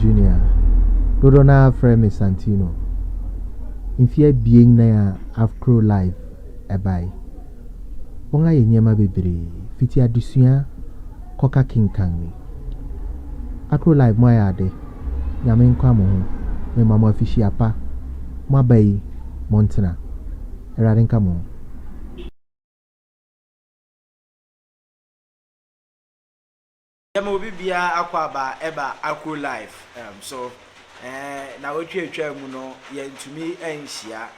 Junior. Dodoɔ no ara frɛ me Santino. Mfeɛ abien na Afro Live ɛbae. wɔayɛ nneɛma bebree, fiti adesua kɔka kenkan ni. Acrolife mo ayɛ ade, Nyame nka mo ho, mema mo afihyia pa, mo aba yi mo ntena, Awurade nka mo ho. Yɛma obi biara akwaaba ɛba Akro life ɛm so ɛɛ nawɔtwe atwaa mu no yɛntumi ɛnhyia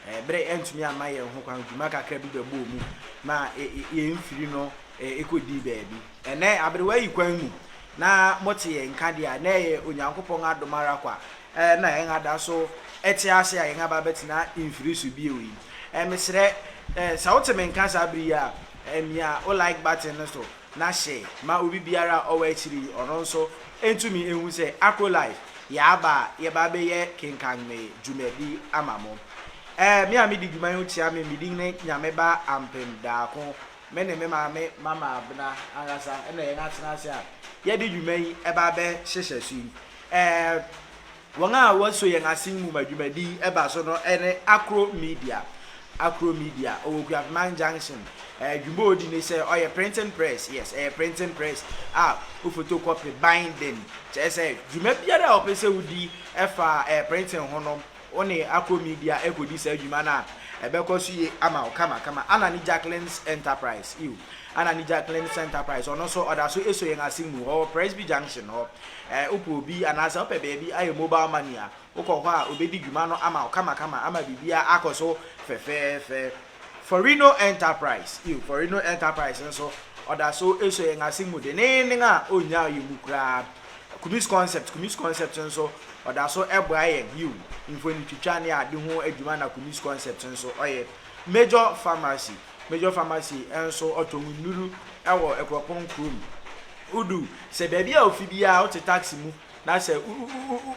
ɛɛ berɛ ɛntumi amma yɛn ho kwan dwuma kakra bi bɛbɔɔ mu ma ɛ yɛn mfiri no ɛ ɛkɔdii baabi ɛnɛ aberewa yi kwan mu na mote yɛn nka deɛ a na ɛyɛ Onyankopɔn adom ara kwa ɛɛ na yɛn ada so ɛte ase a yɛn aba abɛtena mfiri so bio yi ɛɛ mesrɛ ɛɛ sɛ wote me nka saa bere yi a ɛɛ mia wo like button no so. na hyɛ ma obi biara a ɔwɔ akyiri yi ɔno nso ntumi nhu sɛ Acrolife yɛaba a yɛba abɛyɛ kenkanme dwumadi ama mo. Ɛɛ me a medi dwuma yi ho kyia me me din ne Nyame ba Ampem Daako me ne me maame Mama Abena ankasa na yɛn atena ase a yɛde dwuma yi ɛba abɛhyehyɛ so yi. Ɛɛ Wɔn a wɔso yɛn asen mu ma dwumadi yi ba so no ne Akro Media. Akro Media, ɔwɔ Kuafman Junction. Adwuma a ɔdi ne sɛ ɔyɛ printing press, yes, ɛyɛ printing press a wofotokɔpe, binding, kyerɛ sɛ dwuma biara a wɔpɛ sɛ wodi fa printing ho no, wo ne Akro Media kɔdi saa dwuma no a, ɛbɛkɔ so yie ama wo kamakama. Anna ne Jacqueline's Enterprise, ew. Ana Nija Clinic Center Price, ɔno nso ɔda so sɔ yɛn ase mu hɔ wɔ Presby Junction hɔ. Ɛɛ, wopɛ obi anaasɛ wopɛ baabi ayɛ mobile money a, wokɔ hɔ a, obedi dwuma no ama wo kamakama ama biribiara akɔ so fɛfɛɛfɛ. Forino Enterprise, Ew, Forino Enterprise nso, ɔda so sɔ yɛn ase mu denneennen a onnyaw yɛn mu koraa. Kumis Concept, Kumis Concept nso, ɔda so boa yɛn, yiw, mfonitwitwa ne ade ho adwuma na Kumis Concept nso ɔyɛ. Major Pharmacy. Major Pharmacy nso ɔtɔ mu nnuru wɔ Akuapɔn kurom. Wodu sɛ baabi a ofi biara wote taxi mu na sɛ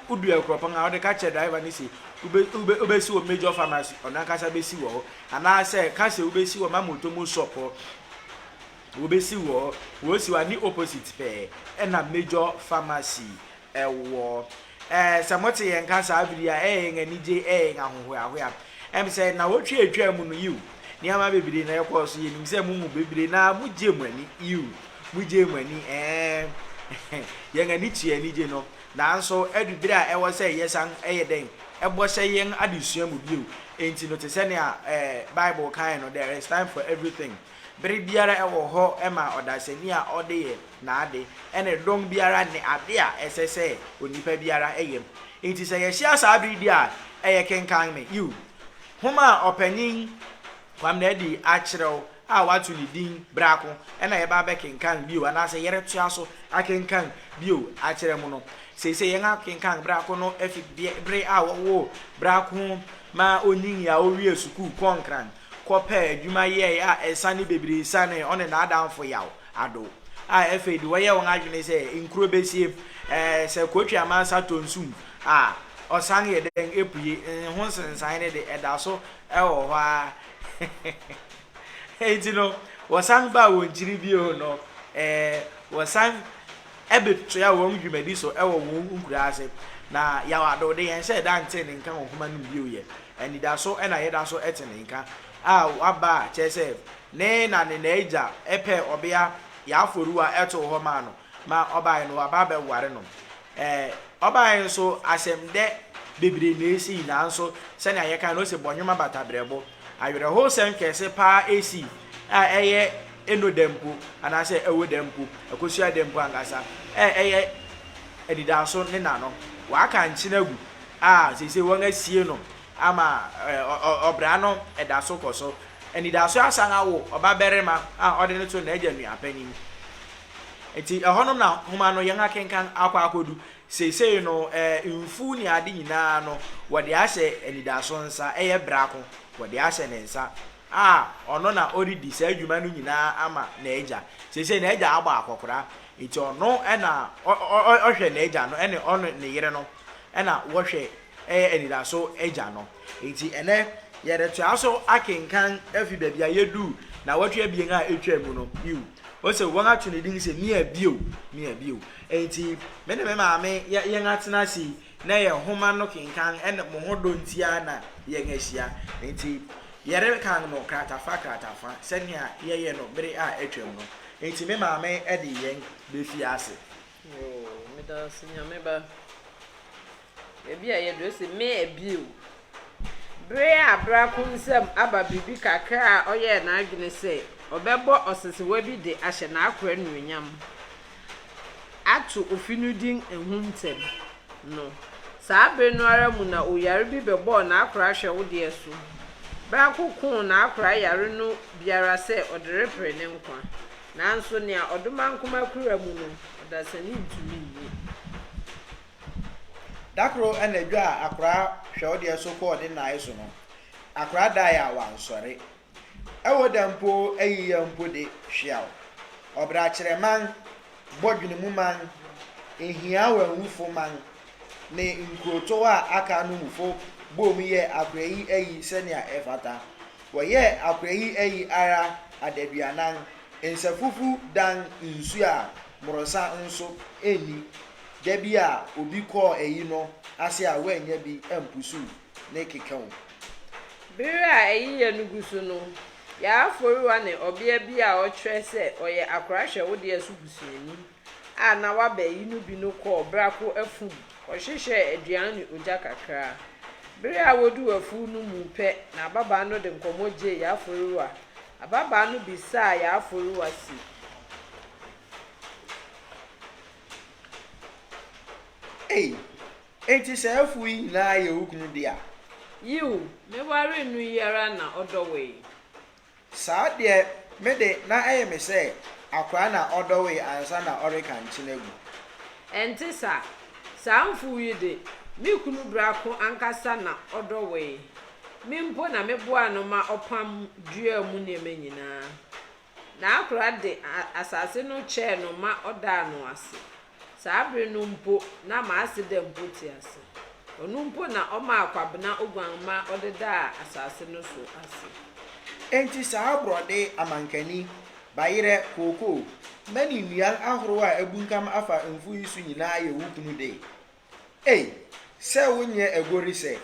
wodu Akuapɔn a wode ka kyerɛ driver no se wobɛsi wɔ Major Pharmacy ɔno ankasa bɛsi wɔ hɔ anaasɛ ka sɛ wobɛsi wɔ Mama Otomo shop hɔ wobɛsi wɔ hɔ wɔsi wɔ ne opposite pɛɛ ɛna Major Pharmacy ɛwɔ. Ɛɛ, sɛ mote yɛn nka saa bere yi a, ɛyɛ yɛn anigye, ɛyɛ yɛn ahohoahoa. Ɛm sɛ nnawɔtwe a etwaa mu no, yiw, nneɛma bebree na ɛkɔɔ so. Yenim sɛ mo mu bebree no ara mugyee mo ani, yiw, mugyee mo ani, ɛɛ, yɛn ani tuee anigye no. Nanso adu bere a ɛwɔ sɛ yɛsan yɛ dɛn? Bɔ hyɛ yɛn adesua mu bio. Enti no te sɛ nea, ɛɛ, Bible kae no, There is time for everything. Bere biara wɔ hɔ ma ɔdasani a ɔde yɛ. n'ade ne dɔm biara ne ade a ɛsɛ sɛ onipa biara yɛ mu. Enti sɛ yɛhyia saa bere bi a, ɛyɛ kenkan me, yiw, nhoma a Ɔpanyin Kwame Nadi akyerɛw a wɔato ne din Bra Ko na yɛba abɛkenkan bio anaasɛ yɛretoa so akenkan bio akyerɛ mo no. Seesei yɛakenkan Bra Ko no afi bere a wɔwoo Bra Ko ma onyinii a owiee sukuu kɔnkran kɔpɛɛ adwuma yɛe a nsa ne bebree sianee ɔne n'adamfo yaw. ado a ɛfei de wɔyɛ wɔn adwene sɛ nkuro bɛsie. Ɛɛ sɛ Kootwi Amansa tɔ nsu mu a, ɔsan yɛ dɛn pue? Ho nsensan no de, ɛda so wɔ hɔ ara. Enti no, wɔsan baa wɔn kyiri bio no, ɛɛ wɔsan bɛtoaa wɔn dwumadi so wɔ wɔn nkuraa ase. Na Yaw Ado de, yɛnhyɛɛ da ntee ne nka wɔ nhoma no mu bio. Yɛ anidaso na yɛda so te ne nka a waba a, kyerɛ sɛ, Ne na ne n'agya pɛɛ ɔbea yɛ afɔrewa too hɔ maa no ma ɔbae no ɔaba abɛware no. Ɛɛ, ɔbae nso asɛmdɛ bebree na esii nanso sɛnea yɛkae no ose bɔnwoma bata brɛbo. Awerɛhowsɛm kɛse paa sii a ɛyɛ eno da mpo anaasɛ ɛwɔ da mpo, ɛkosua da mpo ankasa a ɛyɛ anidaso ne na no. Wɔaka nkyene agu a seesei wɔasie no ama ɔbra no da so kɔ so. Anidaso asan awo ɔbabarima a ɔde no to n'agya nua panyin. Enti ɛhɔnom na nhoma no yɛn akenkan akɔ akodu. Seesei no, mfuw ne ade nyinaa no, wɔde ahyɛ anidaso nsa. Ɛyɛ brako. Wɔde ahyɛ ne nsa a ɔno na ɔredi saa dwuma no nyinaa ama n'agya. Seesei n'agya abɔ akɔkora, enti ɔno na ɔhwɛ n'agya no ne ɔne ne yere no na wɔhwɛ yɛ anidaso Agya no. Enti ɛnnɛ yɛretoa so akenkan afi baabi a yeduu nnawɔtwe abien a etwaam mu no bio. Ose, Wɔato ne din sɛ Mia Bio, Mia Bio. Enti me ne me maame yɛ yɛn atena ase yi na yɛn nhoma no kenkan ne mo ho dɔ nti ara na yɛn ahyia. Enti yɛrekan no kratafa kratafa sɛnea yɛyɛ no bere a atwam no. Enti me maame de yɛn befi ase. Yoo, meda wo ase Nyame ba. Ebi a ɛyɛ dɛ ose, Me abie o. Bere a Brako nsam aba biribi kakra a ɔyɛɛ n'adwene sɛ ɔbɛbɔ ɔsesewa bi de ahyɛ n'akoa anuonyam, ato ofi no din Ehu Ntɛm, no, saa bere no ara mu na oyare bi bɛbɔɔ n'akora hwɛwodeɛ so. Brako koo n'akora yare no bi ara sɛ ɔde repere ne nkwa. Nanso nea ɔdomankoma kura mu no, ɔdasani ntumi nyi. Da koro anadwo a akoraa hwɛ ɔdeɛ so kɔɔ ne naae so no, akoraa dae a wansɔre. Ɛwɔ da mpo ayi yɛ mpo de, hweaw. Ɔbrakyerɛ man, bɔdwenemu man, nhia wɔ awufo man, ne nkurotow a aka no mufo boom yɛɛ akoraa yi ayi sɛnea ɛfata. Wɔyɛɛ akoraa yi ayi ara adaduanan, nsafufu dan nsu a mmorosa nso nni. Da bi a obi kɔɔ ayi no ase a wannya bi ampusuw ne keka o. Bere a ayiyɛ no gu so no, Yaaforiwa ne ɔbea bi a ɔkyerɛ sɛ ɔyɛ akora hwɛ wo deɛ so busuani a na waba ayi no bi no kɔɔ Brako afum kɔhyehyɛɛ aduan ne ogya kakra. Bere a woduu afuw no mu pɛ na ababaa no de nkɔmmɔ gyee Yaaforiwa. Ababaa no bisaa Yaaforiwa se. Ei, enti saa afuw yi nyinaa yɛ wo kunu dea? Yiw, me waree no yi ara na ɔdɔwee. Saa deɛ, me de, na ɛyɛ me sɛ akoraa na ɔdɔwee ansa na ɔreka nkyen agu. Ɛnte saa. Saa mfuw yi de, me kunu biako ankasa na ɔdɔwee. Me mpo na meboaa no ma ɔpam duaa mu nneɛma nyinaa. N'akora de asase no kyɛɛ no ma ɔdaa no ase. Saa bere no mpo na m'aseda mpo te ase. Ɔno mpo na ɔmaa Kwabena Oguamma ɔdedaa asase no so ase. Enti saa borɔde, amankani, bayerɛ, kookoo, mani nnuan ahorow a abunkam afa mfuw yi so nyinaa yɛ wo kunu de. Ei, sɛ wonyɛ aguori sɛ.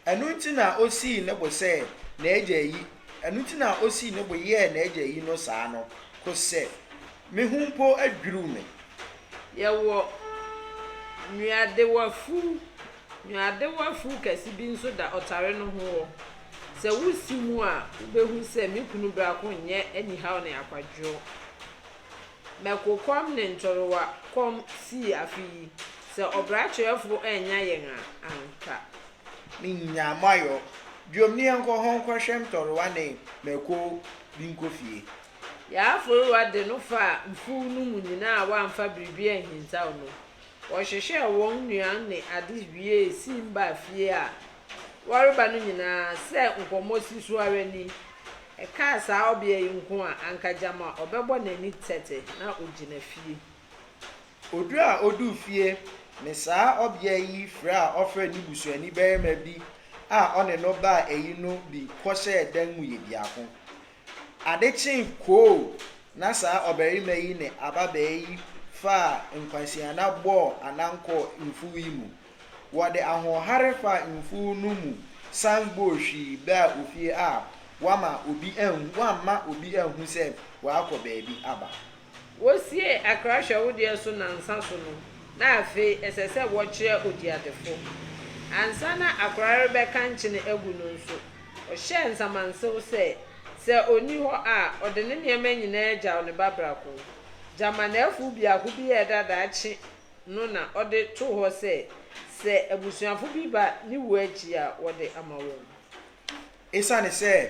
Ɛno nti na osii ne bo sɛ n'agya ayi, ɛno nti na osii ne bo yɛɛ n'agya ayi no saa no, kosɛ me ho mpo adwiriw me. Yɛwɔ nnuadewafuw. Nnuadewafuw kɛse bi nso da ɔtare no ho hɔ. Sɛ wusi mu a, wubehu sɛ me kunu biako nyɛ anihaw ne akwadworɔ. Mɛkokɔm ne ntorowa kɔm sii afe yi, sɛ ɔbra kyerɛfo annya yɛn a, ampa. Me nyaa mo ayɔ. Biom ne yɛnkɔ hɔ nkɔhwɛ ntorowa ne mɛko bi nkɔ fie. Yɛaforowa de no faa mfuw no mu nyinaa a wɔamfa biribi anhintaw no. Wɔhwehwɛɛ wɔn nnuan ne ade wiee siim baa fie a wɔreba no nyinaa sɛ nkɔmmɔ si so ara ni. Ɛkaa saa ɔbea yi nko a, anka gyama ɔbɛbɔ n'ani tɛtɛ na ogyina fie. Odu a oduu fie ne saa ɔbea yi frɛ a ɔfrɛ ne busuani barima bi a ɔne no baa ayi no bi kɔhyɛɛ dan mu yɛ biako. Ade kyee koo na saa ɔbarima yi ne ababaa yi faa nkwaseana bɔɔ anan kɔɔ mfuw yi mu. Wɔde ahoɔhare faa mfuw no mu san bɔɔ hwi baa ofie a wɔamma obi anhu wɔamma obi anhu sɛ wɔakɔ baabi aba. Wosiee akra hwɛwodeɛ so nnansa so no, na afei ɛsɛ sɛ wɔkyerɛ odiadefo. Ansa na akra rebɛka nkyene agu no nso, ɔhyɛɛ nsamansew sɛ, sɛ onni hɔ a, ɔde ne nneɛma nyinaa gyaw ne ba biako. Gyama n'afuw biako bi yɛɛ dɛ a daakye no na ɔde too hɔ sɛ, sɛ abusuafo bi ba ne wu akyi a, wɔde ama wɔn. Esiane sɛ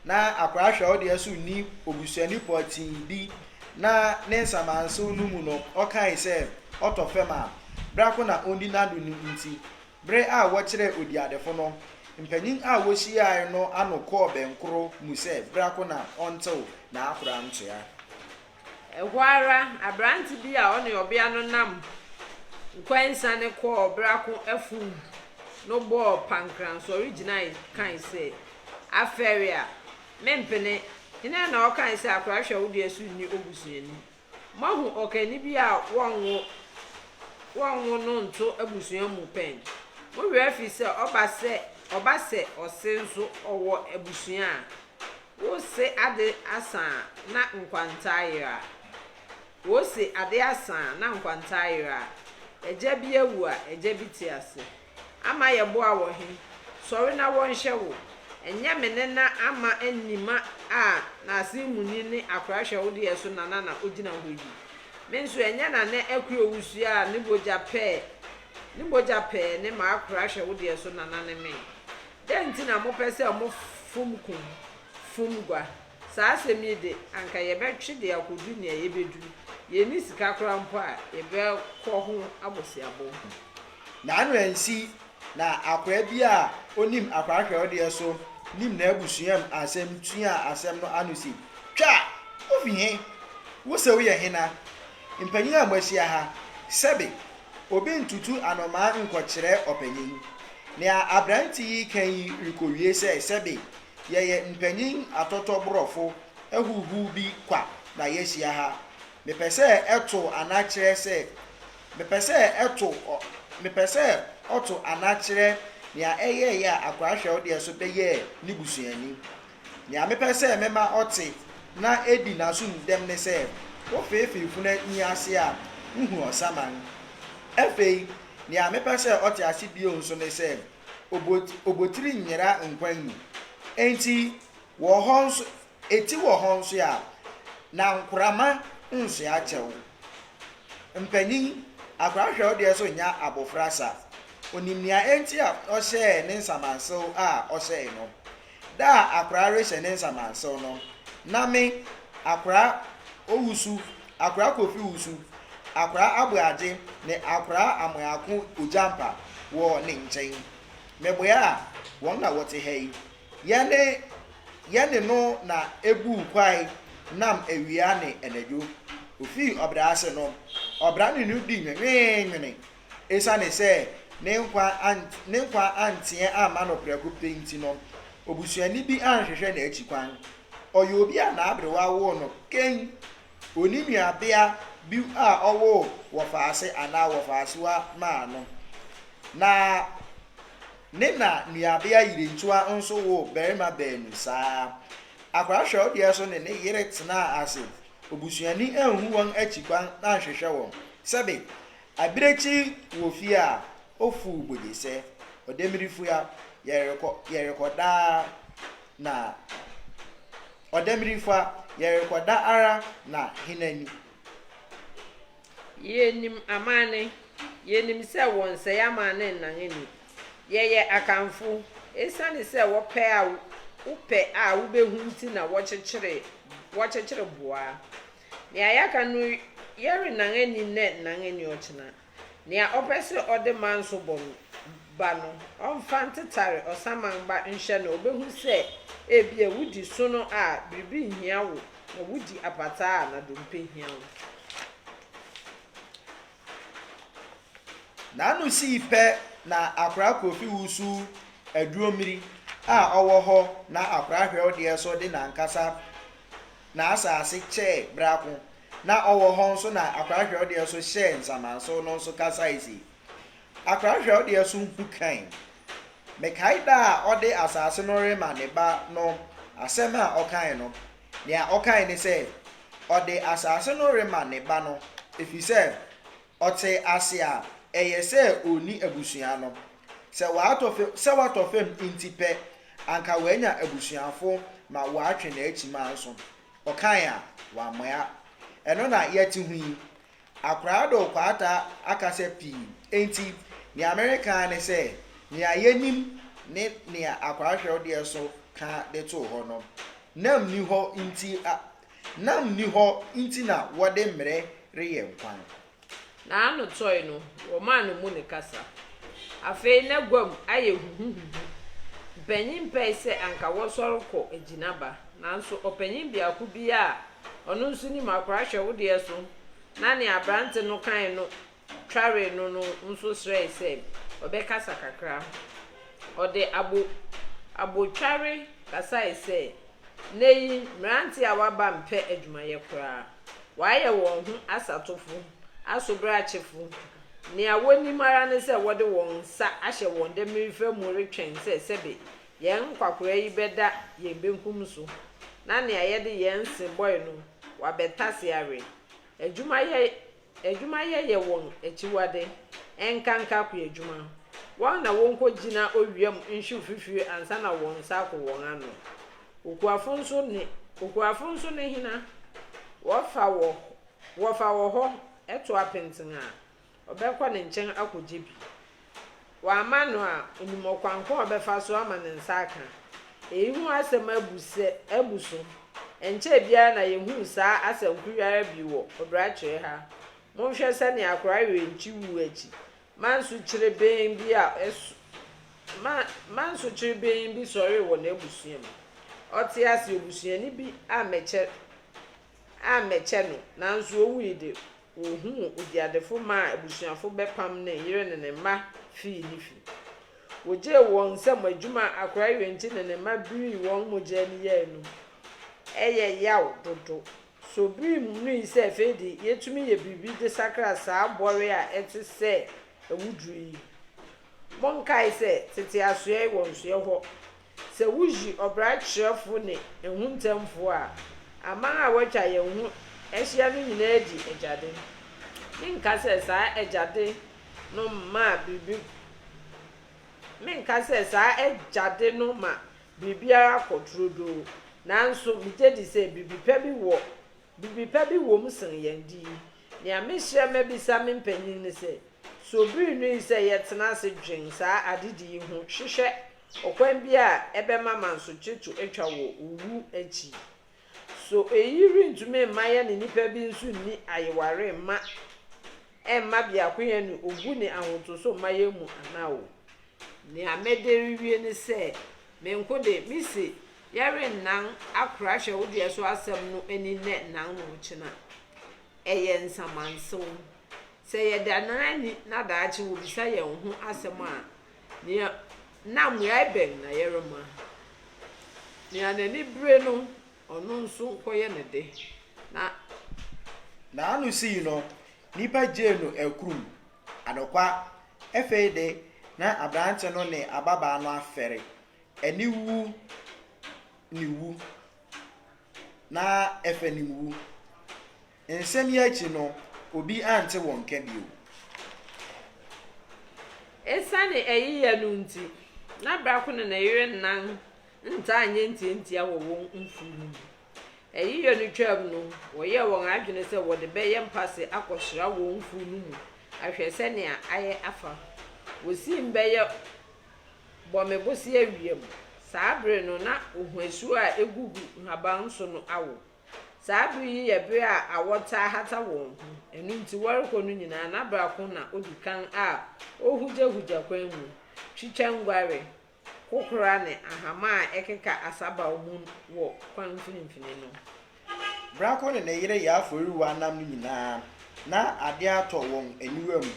na akwadaa hwɛwo deɛ so nni obusuani pɔtee bi na ne nsamansew no mu no, ɔkae sɛ, Ɔtɔ fam a, bra ko na onni n'ado no nti, bere a wɔkyerɛɛ odiadefo no, mpanyin a wohyiae no ano kɔɔ bɛnkoro mu sɛ bra ko na ɔntew n'akora ntoa. Ɛhɔ ara, aberante bi a ɔne ɔbea no nam nkɔnsane kɔɔ ɔbrako afum no bɔɔ pankran sɔre gyinae kae sɛ, Afɛre a! Mempene! Hena na ɔkae sɛ akora hwɛ wo deɛ so nni obusuani? Moahu ɔkanni bi a wɔnwo wɔnwo no nto abusua mu pɛn? Mo werɛ afi sɛ ɔba sɛ ɔba sɛ ɔse nso ɔwɔ abusua a? Wose ade asa a na nkwanta ayera a. Wose ade asa a na nkwanta ayera a. Agya bi awu a agya bi te ase. Ama yɛboa wɔ he? Sɔre na wɔnhwɛ wo. Ɛnyɛ me ne na ama Nima a n'ase muni ne akora hwɛ wo deɛ so Nana na ogyina hɔ yi. Me nso ɛnyɛ Nana Akuo wusua a ne mogya pɛɛ ne mogya pɛɛ ne m'akora hwɛ wo deɛ so Nana ne me. Dɛn nti na mopɛ sɛ mofom kum fom gua? Saa asɛm yi de, anka yɛbɛtwe de akodu nea yebedu. Yenni sika koraa mpo a yɛbɛkɔ ho aboseabɔ. Naano ansi na akwaa bi a onim akwaa kyerɛwdeɛ so nim n'abusuam asɛm tuaa asɛm no ano se, Twa! Wufi he? Wo se woyɛ hena? Mpanyin a moahyia ha, sɛbe, obi ntutu anomaa nkɔkyerɛ ɔpanyin. Nea aberante yi reka yi rekowie sɛ, Sɛbe yɛyɛ mpanyin atɔtɔborɔfo ahuhuw bi kwa na yɛahyia ha. Mepɛ sɛ ɛto ana kyerɛ sɛ mepɛ sɛ ɛto ɔ mepɛ sɛ ɔto ana kyerɛ nea ɛyɛe a akoa hwɛwdeɛ so bɛyɛɛ ne busuani. Nea mepɛ sɛ mema ɔte na edi n'aso mu dɛm ne sɛ wofeefee funu yi ase a, wuhu ɔsaman. Afei, nea mepɛ sɛ ɔte ase bio nso ne sɛ obotiri nyera nkwan mu. Enti, wɔ hɔ nso, eti wɔ hɔ nso a, na nkorama nsoa kyɛw. Mpanyin, akwadaa hwɛ wo deɛ so nyɛ abofra sa. Onim nea enti a ɔhyɛɛ ne nsamansew a ɔhyɛe no. Da a akora rehyɛ ne nsamansew no, na me, Akora Owusu, Akora Kofi Owusu, Akora Aboagye, ne Akora Amoako Ogyampa wɔ ne nkyɛn. Meboaa wɔn na wɔte ha yi. Yɛne yɛne no na ebuu kwae nam awia ne anadwo. Ofii ɔbra ase no, ɔbra ne no dii nwenweenwene Esiane sɛ ne nkwa ant, ne nkwa anteɛ amma no prɛko pɛ nti no, obusuani bi anhwehwɛ n'akyi kwan. Ɔyɛ obi a n'aberewa woo no kɛn. Onni nuabea bi a ɔwoo wɔfaase anaa wɔfaasewa maa no. Na ne na nuabea yerentua nso woo barima baanu saa. Akwadaa hwɛwdeɛ so ne ne yere tenaa ase. Obusuani anhu wɔn akyi kwan anhwehwɛ wɔn. Sɛbe, Abirekyi wɔ fie a, ofuw bogyesɛ, ɔdɛ miri fua, yɛrekɔ, yɛrekɔ daa na Ɔdɛ miri fua, yɛrekɔ da ara na hena ni? Yenim amanne, yenim sɛ wɔnsɛe amanne nnan ani. Yɛyɛ Akanfo, esiane sɛ wɔpɛ a wopɛ a wubehu nti na wɔkyekyere, wɔkyekyere boa. Nea yɛaka no yɛrennan anni nnɛ nnan anni ɔkyena. Nea ɔpɛ sɛ ɔde manso bɔ no ba no ɔmfa ntetare ɔsaman ba nhwɛ na obehu sɛ ebia wudi sono a biribi nhia wo na wudi apataa a na dompe hia wo. N'ano sii pɛ na akora Kofi wusu aduro mmiri a ɔwɔ hɔ na akora hwɛwdeɛ so de n'ankasa n'asaase kyɛɛ brako na ɔwɔ hɔ nso na Akora Hwɛwdeɛ so hyɛɛ nsamanso no nso kasae se, Akora Hwɛwdeɛ so hu kann. Mekae da a ɔde asaase no rema ne ba no asɛm a ɔkae no. Nea ɔkae ne sɛ, ɔde asaase no rema ne ba no efisɛ ɔte ase a ɛyɛ sɛ onni abusua no. Sɛ watɔ fam sɛ watɔ fam nti pɛ, anka wanya abusuafo ma wɔatwe n'akyimaa nso. Ɔkae a, wammoa. Ɛno na yɛte ho yi. Akoraado Kwaataa akasa pii, enti nea mereka ara ne sɛ, nea yenim ne nea Akoraahwɛw deɛ so ka de too hɔ no, nam nni hɔ nti a, nam nni hɔ nti na wɔde mmere reyɛ nkwa. N'ano tɔe no, wɔmaa no mu no kasa. Afei na guam ayɛ huhuhuhu. Mpanyin pɛe sɛ anka wɔsɔre kɔ gyinaba, nanso ɔpanyin biako bi a ɔno nso nim akora hwɛ wo deɛ so na nea aberante no kae no tware no no nso srɛe sɛ ɔbɛkasa kakra. Ɔde abo abotware kasae sɛ, Nnɛyi mmerante a wɔaba mpɛ adwumayɛ koraa. Wɔayɛ wɔn ho asatofo, asobrakyefo. Nea wonim ara ne sɛ wɔde wɔn nsa ahyɛ wɔn demmirifa mu retwɛn sɛ sɛbe yɛn nkwakoraa yi bɛda yɛn benkum so na nea yɛde yɛn se bɔe no wɔabɛtase awe. Adwumayɛ Adwumayɛ yɛ wɔn akyiwade, ɛnkanka akoadwuma. Wɔn na wɔkɔgyina owia mu nhwi fifire ansa na wɔn nsa ako wɔn ano. Okuafo nso ne okuafo nso ne hena? Wɔfa wɔ wɔfa wɔ hɔ to apenten a, ɔbɛkɔ ne nkyɛn akɔgye bi. Wama no a, onim ɔkwan ko a ɔbɛfa so ama ne nsa aka. Eyi ho asɛm abu sɛ abu so. Ɛnkyɛe biara na yehuu saa asanku yi ara bi wɔ Odoakyere ha. Monhwɛ sɛnea akora werɛ nkye wu akyi ma nsukyerebenn bi a ɛso ma ma nsukyerebenn bi sɔree wɔ n'abusua mu. Ɔte ase, obusuani bi ammɛkyɛ ammɛkyɛ no, nanso owui de, Wohuu oguadefo maa abusuafo bɛpam ne yere ne ne mma fii ne fi. Wogyee wɔn nsam adwuma akorae wei nti ne ne mma birii wɔn mogya ani yɛɛ anum. Ɛyɛ yaw dodo. So bere mu nui sɛ afei de yetumi yɛ biribi de sakra saa bɔre a ɛte sɛ awuduru yi? Monkae sɛ, tete asoɛe wɔ nsoɛ hɔ. Sɛ wuyi ɔbra kyerɛfo ne ehuntanfo a, aman a wɔatwa yɛn ho ahyia no nyinaa di agyade. Menka sɛ saa agyade no ma biribi Menka sɛ saa agyade no ma biribiara kɔ turodoo, nanso migye di sɛ biribi pa bi wɔ biribi pa bi wom sen yɛn de yi. Nea mehyɛ mabisa me mpanyin ne sɛ, So bere nnui sɛ yɛtena ase dwen saa adedi yi ho hwehwɛ Ɔkwan bi a ɛbɛma mansotwe to atwa wɔ owu akyi. So eyi rentumi mma yɛne nnipa bi nso nni ayeware mma ɛmma biakoyɛ ne obu ne ahotoso mma yɛn mu anaa? O! Nea mede rewie ne sɛ, me nko de, mise yɛrennan akora hyɛwodeɛ so asɛm no ani nnɛ nnan na ɔkyena. Ɛyɛ nsamansew. Sɛ yɛdannan ani na daakye wɔbisa yɛn ho asɛm a, Nea na mmuae bɛn na yɛrema? Nea n'ani bere no, ɔno nso nkɔyɛ ne de, na. N'ano sii no, nnipa gyee no akurum. Anokwa, afei de, na aberante no ne ababaa no afɛre, aniwu ne wu. na ɛfa ne wu. Nsɛm yi akyi no, obi ante wɔn nka bio. Esiane eyi yɛ no nti, na Brako ne ne yere nnan ntaa nyɛ ntiantia wɔ wɔn mfuw no mu. Eyi yɛ no twaam no, wɔyɛɛ wɔn adwene sɛ wɔde bɛyɛ mpase akɔsra wɔn mfuw no mu ahwɛ sɛnea ayɛ afa. Wosiim bɛyɛ Bɔ me bosea wia mu. Saa bere no, na ohuasu a egugu nhaban so no awo. Saa bere yi yɛ bere a awɔ taa hata wɔn ho, ɛno nti wɔrekɔ no nyinaa na baako na odi kan a ohugyahugya kwan mu, twitwa nguare, kokora ne ahama a ɛkeka asabaw mu wɔ kwan mfinimfini no. Brako ne ne yere yɛ afɔreruwa nam no nyinaa, na ade atɔ wɔn aniwa mu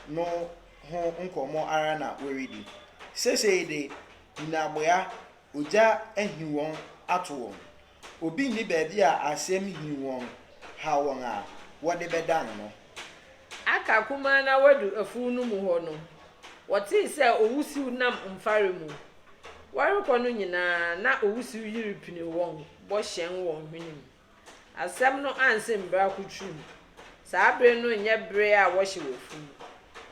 no ho nkɔmmɔ ara na wɔredi. Seesei de, nnaboa, ogya ahi wɔn ato wɔn. Obi nni baabi a asɛm hi wɔn haw wɔn a, wɔde bɛdan no. Aka kumaa no ara wɔadu afuw no mu hɔ no, wɔtee sɛ owusiw nam mfare mu. Wɔrekɔ no nyinaa, na owusiw yi repini wɔn bɔ hyɛn wɔn hwenem. Asɛm no ansen mbra kutru mu. Saa ber no nnyɛ ber a wɔhyɛ wɔ fun.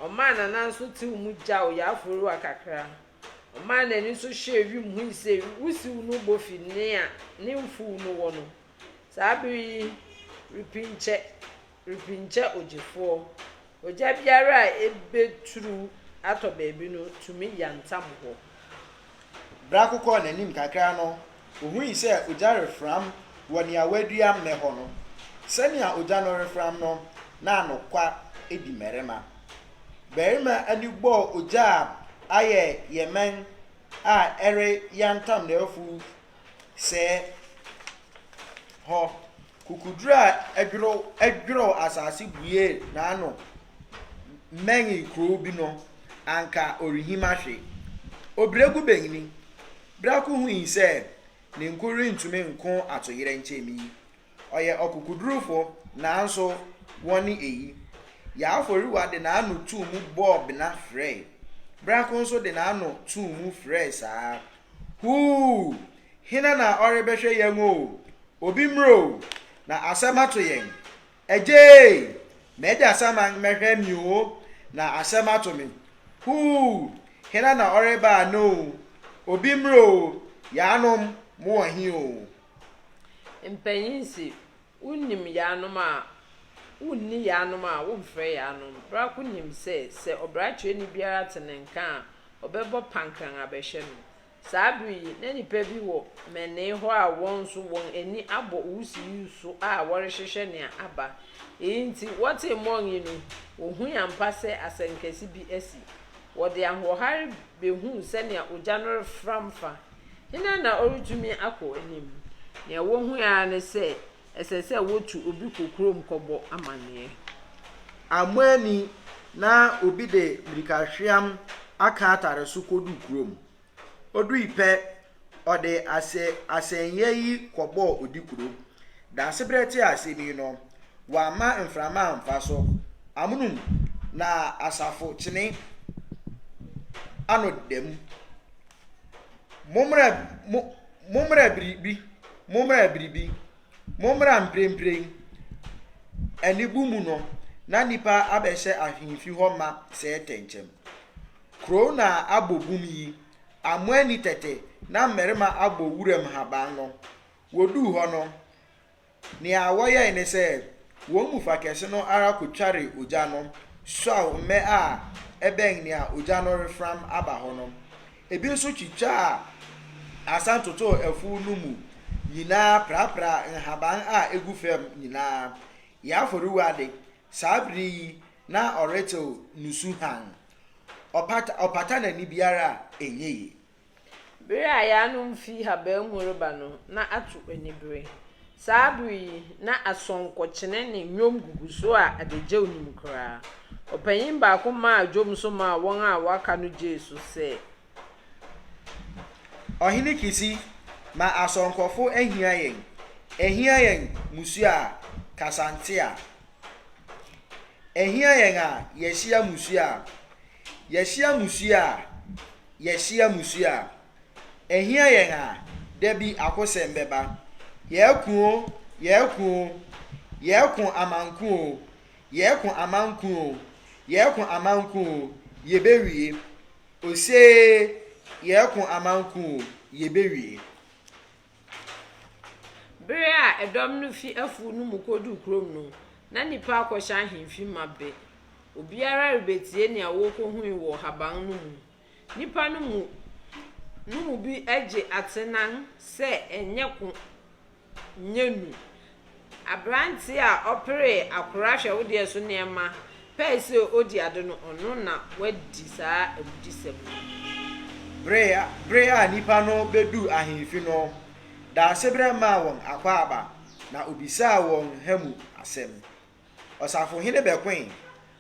Ɔmaa n'anan so tseew mu gyaw Yaaforiwa kakra. Ɔmaa n'enyi so hwɛɛ wimu hui se wusiw no bɔ fi nea ne mfuw no wɔ no. Saa ber yi, repinkyɛ. Firi nkyɛ ogyefoɔ. Ogya biara a ɛbɛturu atɔ baabi no tumi yantam hɔ. Berɛ a kokɔɔ n'anim kakra no, ɔhui sɛ ogya refram wɔ nea wɔadua mmɛ hɔ no. Sɛnea ogya no refram no, na anokwa di mmarima. Barima ani bɔɔ ogya a ayɛ yɛmɛn a ɛreyantam n'afuw sɛɛ hɔ. Kukuduro a ɛdworow ɛdworow asase buee n'ano mmɛnee kurow bi no, anka ɔrenhim ahwe. Obiregu Banyini Brako hui sɛ ne nko rentumi nko atoyerɛnkyɛm yi. Ɔyɛ ɔkokodurufo, nanso wɔne eyi. Yaaforiwa de n'ano too mu bɔɔ bena frɛe. Brako nso de n'ano too mu frɛe saa ara. Huu! Hena na ɔrebɛhwɛ yɛn o? Obi mmra o, na asɛm ato yɛn. Agyee! M'agya Saman mmɛhwɛ me o, na asɛm ato me. Huu! Hena na ɔreba ana o? Obi mmra o, yaanom, mowɔ he o? Mpanyin se, Wonnim yaanom a, wonni yaanom a, womfrɛ yaanom. Bra ko nim sɛ, sɛ ɔbrakyerɛni biara te ne nka a, ɔbɛbɔ pankran abɛhwɛ no. Saa bere yi, na nnipa bi wɔ mmɛnee hɔ a wɔn nso wɔn ani abɔ wusiw yi so a wɔrehwehwɛ nea aba. Eyi nti, wɔtee mmɔn yi no, wohui ampa sɛ asɛnkɛse bi asi. Wɔde ahoɔhare behuu sɛnea ogya no refram fa Hena na ɔretumi akɔ anim? Nea wohui ara ne sɛ ɛsɛ sɛ wotu obi kɔ kurom kɔbɔ amanneɛ. Ammɔ ani na obi de mmirikahweam aka atare so koduu kurom. Odui pɛ, ɔde asɛnneɛ yi kɔbɔɔ Odikuro. Daasebrɛ tee asɛm yi no, wamma mframa amfa so. Amonom na asafo kyene ano da mu. Mommra mo mommra biribi mommra biribi mommra mprempren anibu mu no na nnipa abɛhyɛ ahemfi hɔ ma sɛɛ tɛnkyɛm. Kurow na abɔ bum yi, amoani tɛtɛ na mmarima abɔ wuram haban no. Woduu hɔ no, Nea wɔyɛe ne sɛ, wɔn mu fa kɛse no ara kotwaree ogya no suaw mmɛ a ɛbɛn nea ogya no refram aba hɔ no. Ebi nso twitwaa asan totoo afuw no mu nyinaa prapraa nhaban a egu fam nyinaa. Yɛn afɔrewa de, saa bere yi na ɔretew nusu hann. Ɔpata ɔpata n'ani biara a, enye ye. Bere a yɛanom fi habaa mu reba no, na ato anibere. Saa bere yi, na asɔnkɔkyene ne nnwom gugu so a adagyaw nnim koraa. Ɔpanyin baako maa dwom so maa wɔn a wɔaka no gyee so sɛ. Ɔhene Kisi, ma asɔnkɔfo ahia yɛn, ahia yɛn mmusua a kasa nte a, ahia yɛn a yɛahyia mmusua a, Yɛahyia mmusua a Yɛahyia mmusua a Ɛhia yɛn a Da bi akosɛm bɛba Yɛako o, yɛako o Yɛako amanko o, yɛako amanko o Yɛako amanko o, yɛbɛwie Osee, yɛako amanko o, yɛbɛwie. Bere a dɔm no fi afuw no mu koduu kurom no, na nnipa akɔhyɛ ahemfi ma bɛ. Obiara rebetie nea wokohui wɔ haban no mu. Nnipa no mu no mu bi gye atenan sɛ ɛnyɛ ko nyɛ nu Aberanteɛ a ɔperee akora hwɛwodeɛ so nneɛma pɛɛ sɛ ɔdi ade no, ɔno na wadi saa awudisɛm no. Bere a nnipa no beduu ahemfi no, Daasebrɛ maa wɔn akwaaba, na obisaa wɔn ha mu asɛm. Ɔsafohene bɛkoe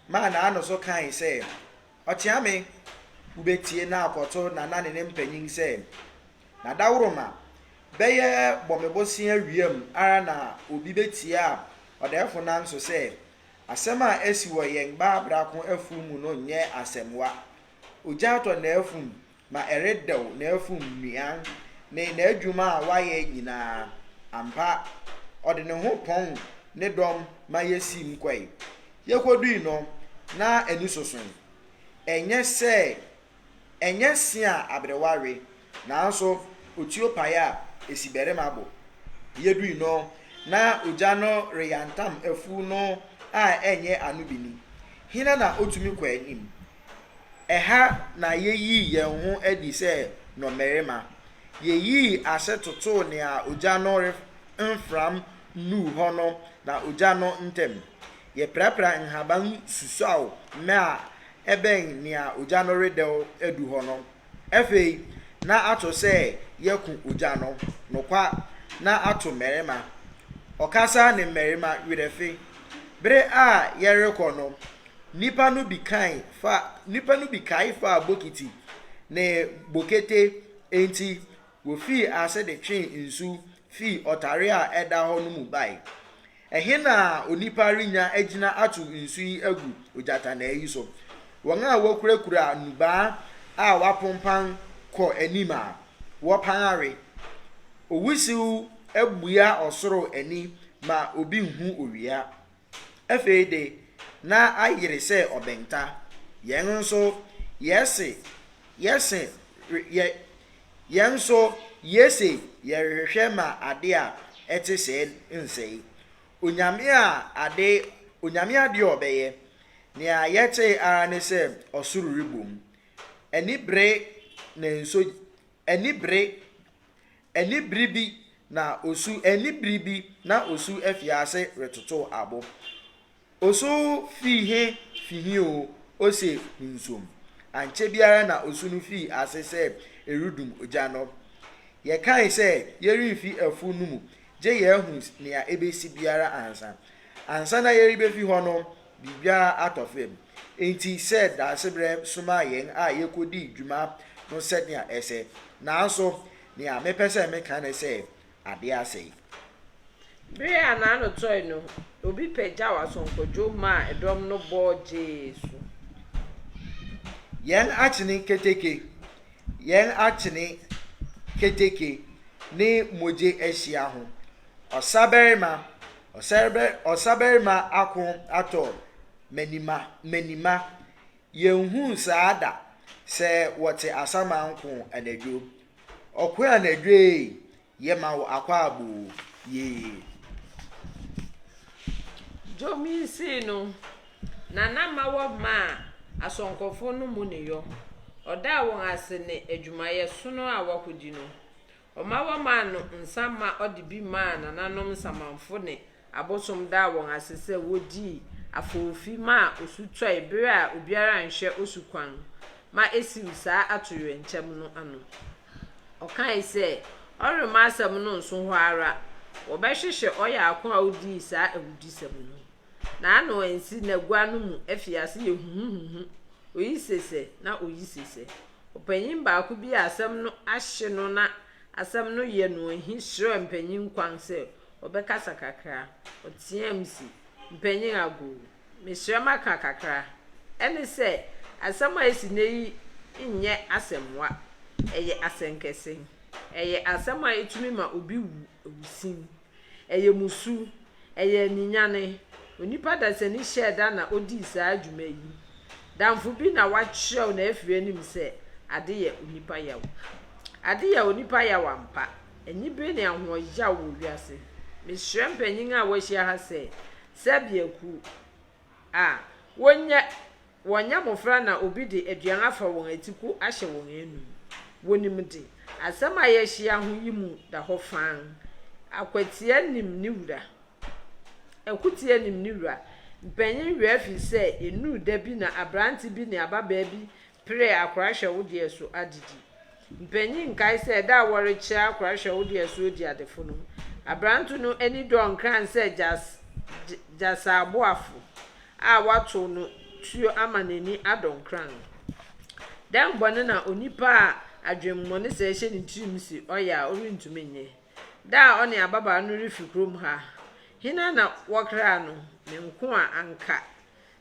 maa n'ano so kae sɛ, Ɔkyeame, Wobɛtie na akɔto Nana ne ne mpanyin sɛ, Na dawuroma bɛyɛ bɔ me bosea wiam ara na obi bɛtie a ɔdɛɛfo nanso sɛ asɛm a asi wɔ yɛn baa brako afuw mu no nyɛ asɛmwa. Ogya atɔ n'afum na ɛredɛw n'afum nnuan ne n'adwuma a wayɛ nyinaa. Ampa, ɔde ne ho pɔn ne dɔm ma yesiim kɔe. Yekodui no, na ani sosoe. Ɛnyɛ sɛ ɛnyɛ se a aberewa we, nanso otuo pae a esi barima bo. Yedui no, na ogya no reyantam afuw no a ɛnyɛ ano bi ni. Hena na otumi kɔ anim? Ɛha na yeyii yɛn ho adi sɛ nnɔmmarima. Yeyii ase totoo nea ogya no remfram nnuu hɔ no na ogya no ntam. Yɛpirapiraa nhaban susuaw mmɛ a ɛbɛn nea ogya no redɛw adu hɔ no Afei, na ato sɛ yɛko ogya no, nokwa, na ato mmarima. Ɔkasa ne mmarima werɛfe. Bere a yɛrekɔ no, nnipa no bi kae fa, nnipa no bi kae faa bokiti ne bokete, enti wofii ase de twee nsu fii ɔtare a ɛda hɔ no mu bae. Ɛhe na onipa renya agyina atow nsu yi agu ogyatannaa yi so? Wɔn a wokurakura nnubaa a wɔapompan kɔ anim a wɔpan awe. Owusiw abua ɔsoro ani ma obi nhu owia. Afei de, na ayere sɛ ɔbɛnta. Yɛn nso, yɛse yɛse re yɛ Yɛn nso, yese yɛrehwehwɛ ma ade a ɛte sɛɛ nsɛe. Onyame a ade, Onyame ade a ɔbɛyɛ, nea yɛtee ara ne sɛ ɔsoro rebom. Anibere na nso anibere, anibere bi na osu, anibere bi na osu afi ase retotow abo. Osu fii he fi he oo, ose hunsom. Ankyɛ biara na osu no fii ase sɛ eredum ogya no. Yɛkae sɛ yɛremfi afuw no mu gye yɛahu nea ebesi biara ansa. Ansa na yɛrebefi hɔ no, biribiara atɔ fam. Enti sɛ Daasebrɛ somaa yɛn a yekodii dwuma no sɛnea ɛsɛ. Nanso, nea mepɛ sɛ meka ne sɛ, ade asa yi. Bere a n'ano tɔe no, obi pagyaw asonkɔdwow maa dɔm no bɔ gyee so. Yɛn akyene keteke, yɛn akyene keteke ne mogye ahyia ho, ɔsabarima, ɔsabarima ako atɔ Menima, Menima, Yɛnhuu saa da sɛ wɔte asaman ko anadwo. Ɔko anadwo ee, yɛma wo akwaaboo, yee. Dwom yi sii no, Nana ma wɔ maa asɔnkɔfoɔ no mu ne yɔ, ɔdaa wɔn ase ne adwumayɛ sono a wɔakɔdi no. Ɔma wɔmaa no nsã ma ɔde bi maa nananom nsamanfo ne abosom daa wɔn ase sɛ wodii afoofi maa osu tɔe bere a obiara anhwɛ osu kwan ma esiw saa atoyerɛnkyɛm no ano. Ɔkae sɛ ɔremma asɛm no nso hɔ ara, wɔbɛhwehwɛ ɔyarko a odii saa awudisɛm no. N'ano ansi n'agua no mu afi ase yɛ huhuhuhu, oyi sesɛ na oyi sesɛ. Ɔpanyin baako bi a asɛm no ahye no na asɛm no yɛ no ahi srɛɛ mpanyin kwan sɛ ɔbɛkasa kakra. Ɔteɛɛm se, Mpanyin Agoo, mesrɛ maka kakra. Ɛne sɛ, asɛm a asi nnɛ yi nyɛ asɛmmoa. Ɛyɛ asɛnkɛse. Ɛyɛ asɛm a etumi ma obi wu awusimm. Ɛyɛ mmusu. Ɛyɛ aninyanne. Onipa dasani hyɛɛ da na odii saa dwuma yi. Damfo bi na wakyerɛw na afiri anim sɛ, Ade yɛ onipa yaw. Ade yɛ onipa yaw ampa. Anibere ne ahoɔyaw wɔ wiase. Mesrɛ mpanyin a wɔahyia ha sɛ, sɛbea kuw a wonnya Wɔnyɛ mmofra na obi de aduan afa wɔn atiku ahyɛ wɔn anom. Wonim de. Asɛm a yɛahyia ho yi mu da hɔ fann. Akwatia nim ne wura. Akutia nim ne wura. Mpanyin were afi sɛ ennuu da bi na aberante bi ne ababaa bi peree akora hwɛ wo deɛ so adidi. Mpanyin nkae sɛ da a wɔrekyerɛ akora hwɛ wo de asu odi adefo no, aberante no ani dɔɔ nkran sɛ gyasaaboafo a wɔatow no tuo ama n'ani adɔ nkran no. Dɛn bɔne na onipa a adwemmɔne sɛɛ hyɛ ne tirim se ɔyɛ a ɔrentumi nyɛ? Da a ɔne ababaa no refi kurom ha, hena na wɔkraa no? Me nkoa anka.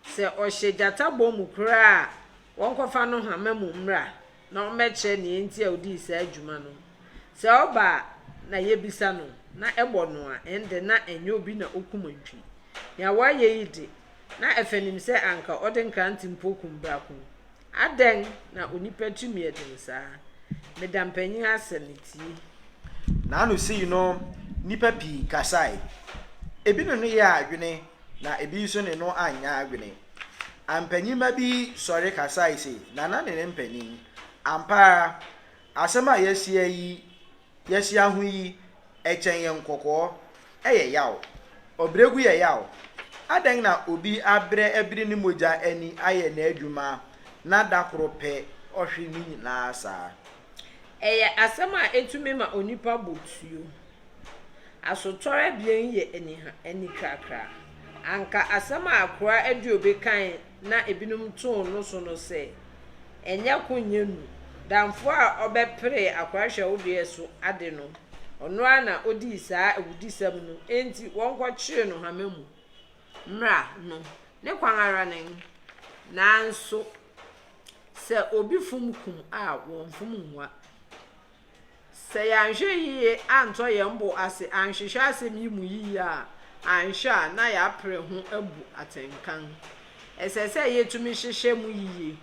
Sɛ ɔhyɛ gyata bɔ mu koraa a, wɔnkɔfa no hama mu mmra na ɔmmɛkyerɛ nea enti a odii saa dwuma no. Sɛ ɔba a, na yebisa no, na ɛbɔ no a, ɛnde na ɛnyɛ obi na okum antwi. Nea wayɛ yi de, na ɛfa nim sɛ anka ɔde nkrante mpo kum brakon. Adɛn na onipa tumi yɛ den saa? Meda mpanyin ase ne tie. N'ano sii no, nnipa pii kasae. Ebi ne no yɛɛ adwene, na ebi nso ne no anyɛ adwene. Ampanyinma bi sɔre kasae se, Nana ne ne mpanyin, ampa ara, asɛm a yɛasia yi Yɛahyia ho yi, ɛkyɛn yɛn kɔkɔɔ. Ɛyɛ yaw. Ɔbrɛgu yɛ yaw. Adɛn na obi abrɛ abiri ne mogya ani ayɛ n'adwuma na da koro pɛ ɔhwe ne nyinaa saa? Ɛyɛ asɛm a etumi ma onipa bo tuo. Asotɔre abien yi yɛ anitwakra. Anka asɛm a akoa Adiobi kae na ebinom too no so no sɛ, Ɛnyɛ ko nyɛ nu. Damfo a ɔbɛperee akoa hwɛwodeɛ so ade no, ɔno ara na ɔdii saa awudisɛm no, enti wɔnkɔkyere no hama mu. Mmara no, ne kwan ara nen. Nanso sɛ obi fom kum a, wɔmfom nwa. Sɛ yɛanhwɛ yiye antɔ yɛn bo ase anhwehwɛ asɛm yi mu yiye a, anhwɛ a na yɛapere ho abu atɛnka. Ɛsɛ sɛ yetumi hyehyɛ mu yiye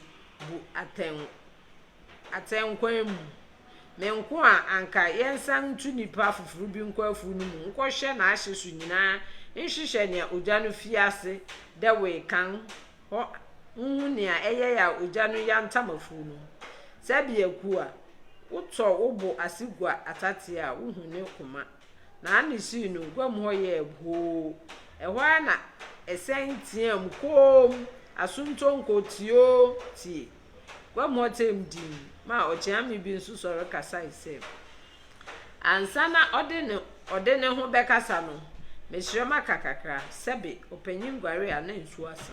bu atɛn atɛnkwan mu. Me nko a anka yɛnsan ntu nnipa foforo bi nkɔ afuw no mu nkɔhwɛ n'ahye so nyinaa nhyehyɛ nea ogya no fii ase dɛwee kan hɔ nhu nea ɛyɛe a ogya no yantam afuw no mu. Sɛ biako a, wotɔ wo bo ase gua atateɛ a wuhu ne koma. Naane sii no guam hɔ yɛɛ boo. Ɛhɔ ara na ɛsɛn teɛɛm koom, Asontonko, tioo, tie! Guam hɔ tɛm dinn maa ɔkyeame bi nso sɔre kasae sɛ, Ansa na ɔde ne ɔde ne ho bɛkasa no, mesrɛ maka kakra, sɛbe ɔpanyin guare a na nsuo asa.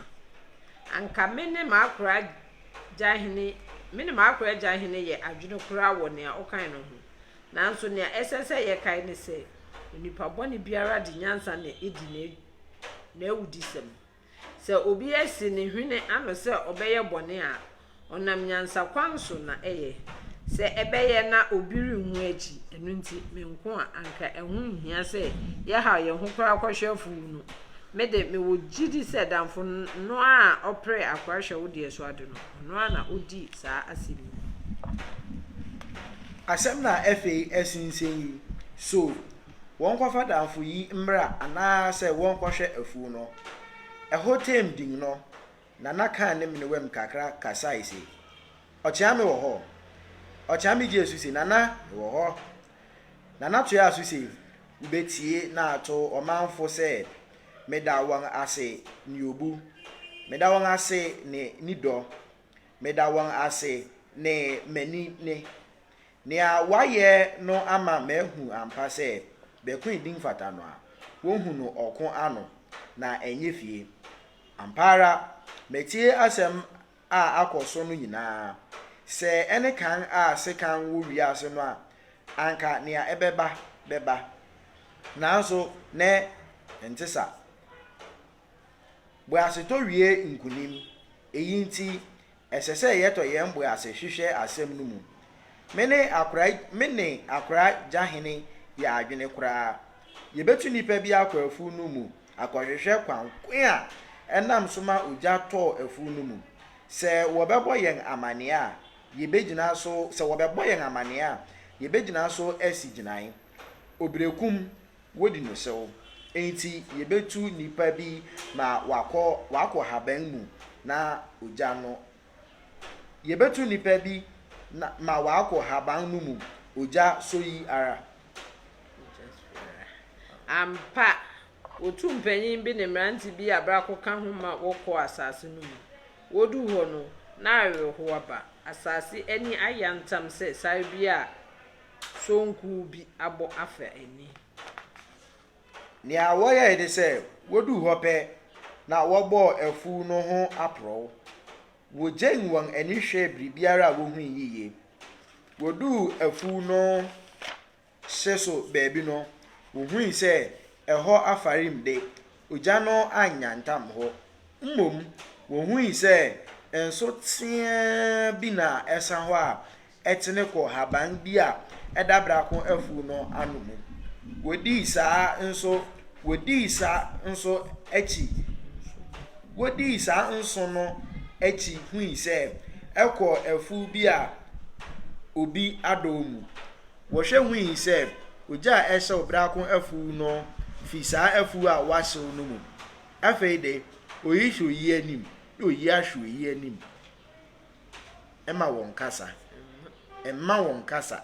Anka me ne m'akora gyahene me ne m'akora gyahene yɛ adwene koraa wɔ nea ɔkae no ho. Nanso nea ɛsɛ sɛ yɛkae ne sɛ, onipa bɔne biara de nyansa na edi n'awudisɛm. Sɛ obi asi ne hwene ano sɛ ɔbɛyɛ bɔne a, ɔnam nyansakwan so na ɛyɛ. Sɛ ɛbɛyɛ na obi renhu akyi. Ɛno nti, me nko a, anka ɛho nhia sɛ yɛhaw yɛn ho koraa kɔhwɛ afuw no. Me de, mewɔ gyidi sɛ damfo no a ɔpere akora hwɛ wo deɛ so ade no, ɔno ara na odii saa asɛm yi. Asɛm na afei ɛsensɛn yi, So wɔnkɔfa damfo yi mmra anaasɛ wɔnkɔhwɛ afuw no. Ɛhɔ tɛm dinn no, Nana kaa ne menewam kakra kasae se, Ɔkyeame wɔ hɔ? Ɔkyeame gyee so se, Nana, mewɔ hɔ. Nana toaa so se, Wubetie na ato ɔmanfo sɛ meda wɔn ase ne obu, meda wɔn ase ne nidɔ, meda wɔn ase ne m'ani ne. Nea wayɛ no ama mahu ampa sɛ Bɛkoe din fata no a, wohu no ɔko ano, na ɛnyɛ fie. Ampa ara, matie asɛm a akɔ so no nyinaa. Sɛ ɛne kan a sekan wɔ wiase no a, anka nea ɛbɛba bɛba. Nanso nnɛ, ɛnte saa. Boasetɔ wie nkonim. Eyi nti, Ɛsɛ sɛ yɛtɔ yɛn bo ase hwehwɛ asɛm no mu. Me ne akoraa me ne akoraa Gyahene yɛ adwene koraa. Yɛbɛtu nnipa bi akɔ afuw no mu akɔhwehwɛ kwan ko a ɛnam so ma ogya tɔɔ afuw no mu. Sɛ wɔbɛbɔ yɛn amanneɛ a, yɛbɛgyina so sɛ wɔbɛbɔ yɛn amanneɛ a, yɛbɛgyina so asi gyinae. Obirekum Wodi no sew. Enti yebetu nipa bi ma wakɔ wakɔ haban mu na ogya no Yebetu nipa bi na ma wakɔ haban no mu ogya so yi ara. Ampa, wotu mpanyin bi ne mmerante bi a brako ka ho ma wɔkɔ asase no mu. Wodu hɔ no, na awerɛhow aba. Asase ani ayɛ antam sɛ sare bi a. sonkuu bi abɔ afa ani. Nea wɔyɛe ne sɛ woduu hɔ pɛ na wɔbɔɔ afuw no ho aporɔw. Wogyen wɔn ani hwɛɛ biribiara a wohui yiye. Woduu afuw no hye so baabi no, wohui sɛ ɛhɔ afarim de, ogya no annyantam hɔ. Mmom, wohui sɛ nso teaa bi na ɛsa hɔ a tene kɔ haban bi a ɛda brako afuw no ano mu. Wodii saa nso wodii saa nso akyi wodii saa nso no akyi hui sɛ ɛkɔ afuw bi a obi adɔw mu. Wɔhwɛ hui sɛ ogya a ɛhyew brako afuw no fi saa afuw a wɔahyew no mu. Afei de, oyi hwɛ oyi anim, na oyi ahwɛ oyi anim. Mma wɔnnkasa. Mma wɔnnkasa.